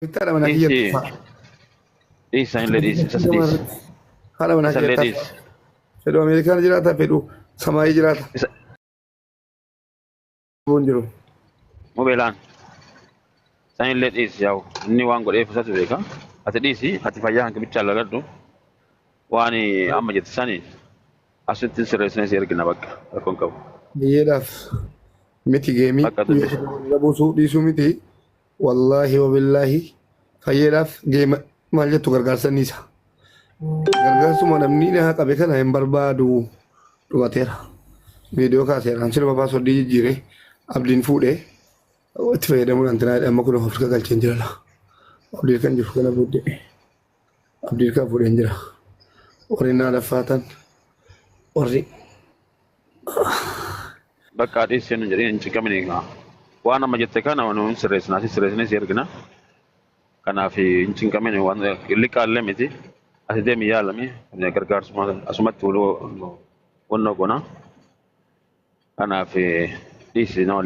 Bittaa dha mana kiyya Dhiisi. tuffaa. Dhiisa hin ledhiisa. Isas dhiisa. Haadha manaa Isa kiyya tuffaa. ledhiisa. Fedhu Ameerikaan jiraata, fedhu samaayii jiraata. Isa Buun jiru. mobeelaan. Isa hin ledhiisa yaa'u. Inni waan godheef isatu beeka. Ati dhiisi. Ati fayyaa hanqi bichaa laladhu. Waan amma jette sani asitti sirreessinee si ergina bakka. Rakkoon qabu. Biyyeedhaaf miti geemii. Bakka tuni. Biyya buusuu dhiisuu miti. Wallaahi wabillaahi fayyeedhaaf deema maal jettu gargaarsa niisa. Gargaarsuma namni na qabe kana hin barbaadu dhumateera. Viidiyoo kaaseera amsina babaa soddii jijjiire abdiin fuudhee itti fayyadamuudhaan tinaa amma kun of galcheen jira laa. Abdiin kan jiru kana booddee. abdii kaa fuudheen jira warri naa laffaatan warri Bakka adii seenu jedhee hin ciqamin egaa. Waan amma jette kana nuun sirreessinaa si sirreessinee si ergina. Kanaaf hin cinqamin waan liqaallee miti. Asi deemi yaalami gargaarsuma asumatti wannoo goona. Kanaaf dhiisi nama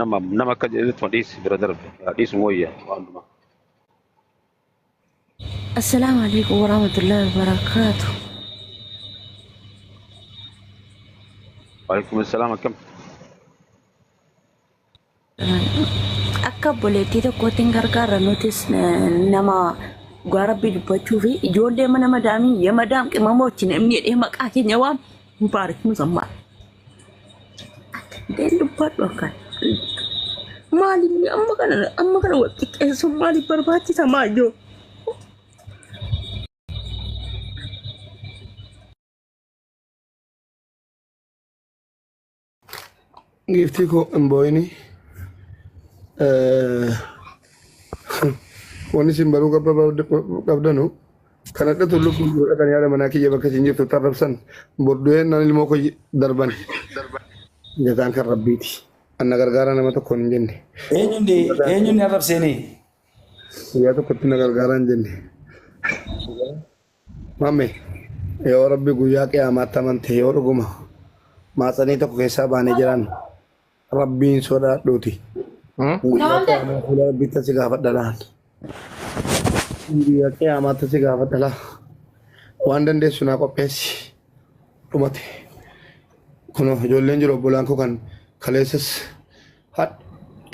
nama nama akka jedhutti dhiisi bira darbe dhiisuma wayya waan dhumaa. Assalaamu alaikum warahmatullahi wabarakatuh. Waalaikum assalam akkam. Akka obboleettii tokkootti hin gargaarra nutis eh, nama dhugaa rabbii dubbachuu fi ijoollee mana madaamii yemadaam qimamoochin namni jedhee maqaa keenya waam Mubaarik Muzammaar. Deen dubbadhu akkan. Maaliif ni amma kana amma kana wal xiqqeessuun maaliif barbaachisa maayyoo? Giiftii koo hin boo'ini. Wanni isin baruu qabdanu kan adda tullu kun godha kan yaada manaa kiyya bakka isin jirtu tarrabsan bordu'een naan ilmoo koo darban jataan kan rabbiiti. Anna gargaara nama tokkoon hin jenne. Eenyundi eenyundi arrabseenii? Guyyaa tokkotti na gargaara hin jenne. Mame yoo rabbi guyyaa qiyaamaatti amante yoo dhuguma maatsanii tokko keessaa baanee jiraan rabbiin sodaadhuuti guyyaa qiyaamaa fuula rabbiitti si gaafadha laal guyyaa qiyaamaatti si gaafadha laal waan dandeessu naa qopheessi dhumate kun ijoolleen jiru obbolaan koo kan kaleessas Hadh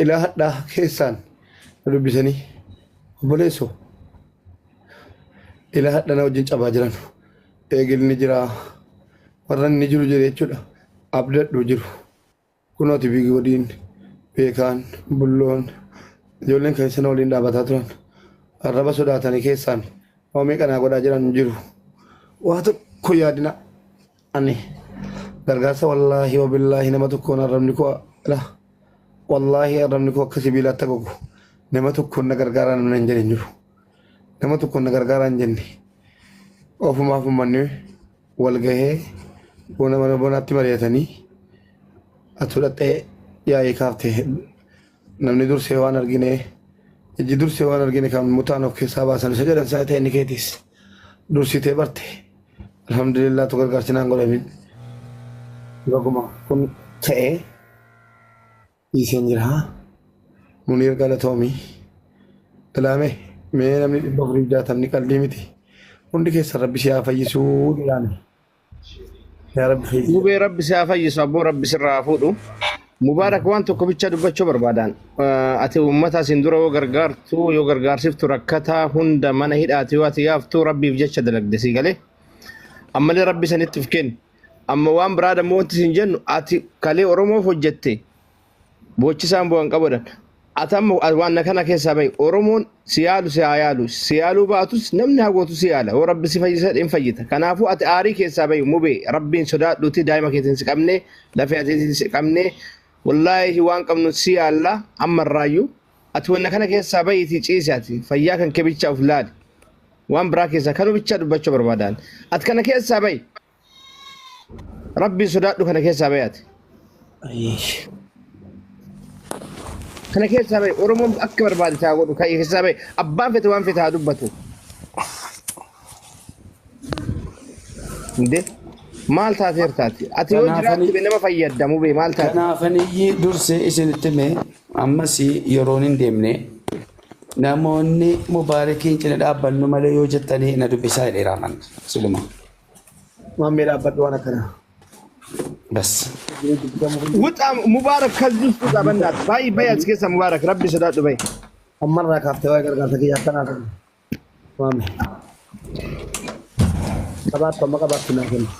ilaa hadhaa keessaan na dubbisanii obboleessoo ilaa hadha na wajjin cabaa jiran eegilni jiraa warra inni jiru jira jechuudha abdadhu jiru kunooti biigi wadiin beekaan bulloon ijoolleen kan isana waliin dhaabataa turan arraba sodaatanii keessaan waa meeqa naa godhaa jiran jiru waa tokko yaadina ani gargaarsa wallaahi wabillaahi nama tokkoon arrabni koo la wallaahi arrabni koo akka sibiila atta gogu nama tokkoon na gargaaraa namni hin jedhin jiru nama tokkoon na gargaaraa hin jenne ofumaaf ummanni wal gahee bona mana bonaatti mari'atanii atu dhaxxee yaa'ii kaafte Namni dursee waan argine ijji dursee waan argine kan mutaan of keessaa baasan isa jedhan sana ta'e inni keetiis dursitee barte alhamdulillah tu gargaarsi naan godhamin baguma kun ta'e dhiiseen jira muniir galatoomi ilaame mee namni dhibba afurii jaatamni qaldii miti hundi keessan rabbi si haa fayyisuu ilaame. Yaa Rabbi fayyisi. Mubee rabbi si haa fayyisu abboo rabbi sirraa haa fuudhu. Mubaarak waan tokko bicha dubbachuu barbaadaan. Eh, Ati uummata asiin dura yoo gargaartu yoo gargaarsiftu rakkataa hunda mana hidhaati yoo ati yaaftu rabbiif jecha dalagde sii galee. Ammallee rabbi sanitti of kenni. Amma waan biraa dammoo wanti siin jennu ati kalee Oromoof hojjette boochisaan bu'an qabadha. Ati amma waan na kana keessaa bahi. Oromoon si yaalu si haa yaalu. Si yaaluu baatus namni hagootu si yaala. Yoo rabbi si fayyisa hin fayyita. Kanaafuu ati aarii keessaa bahi mubee rabbiin sodaadhuuti daa'ima keetiin si qabnee lafee ateetiin si qabnee wallaahi waan qabnu si yaalla amma irraayyuu ati wanna kana keessaa bahiitii ciisi ati fayyaa kan kee bichaa of laali. Waan biraa keessaa kanuu bichaa dubbachuu barbaadaan. Ati kana keessaa bahi. Rabbiin sodaadhu kana keessaa bahi ati. Kana keessaa bahi Oromoon akka barbaade taa godhu kan keessaa bahi abbaan fete waan fete haa dubbatu. Inde maal taateer taate ati yoo Kanaafani- jiraatte bee nama fayyadamu bee maal taate. Kanaafan iyyii dursee isinitti hime ammas yeroon hin deemne namoonni mubaarikiin cina dhaabbannu malee yoo jettanii na dubbisaa jedheera amanna siluma. Maammee dhaabbadhu waan akkanaa. Bas. Wuxa Mubaarak kalbii isku qabannaat. Baay'ee baay'ee as keessa Mubaarak rabbi sodaadhu baay'ee. Ammarraa kaaftee waa'ee gargaarsa kiyya akkanaa ta'e. Maammee. Qabaattu amma qabaattu naa kenna.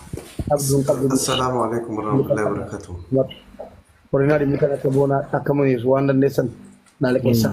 Qabdu hin qabdu. Assalaamu alaikum warahmatullahi wabarakatuh. Horinaa dhimmi kan akka boonaa akka muniisu waan dandeessan naa liqeessaa.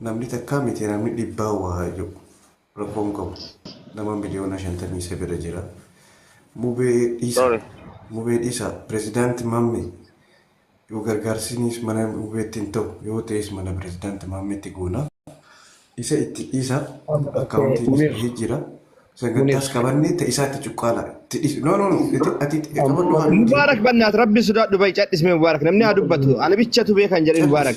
Namni takkaa miti namni dhibbaan waa haa je'u rakkoo hin qabu. Nama miliyoona shantamii sagal'a jira. Mubee dhiisa mubee dhiisa pirezidaanti maammee yoo gargaarsinis mana mubeetti hin ta'u yoo ta'es mana pirezidaanti maammeetti goona. Isa itti dhiisa akkaawuntiinis bahee jira. Sagantaas qabannee ta isaatti cuqqaala itti dhiisa. No no no ati ati qabadhu haa nuti. Mubaarak bannaat rabbi sodaadhu bayi cadhisme Mubaarak namni haa dubbatu ana bichatu beekan jedhin Mubaarak.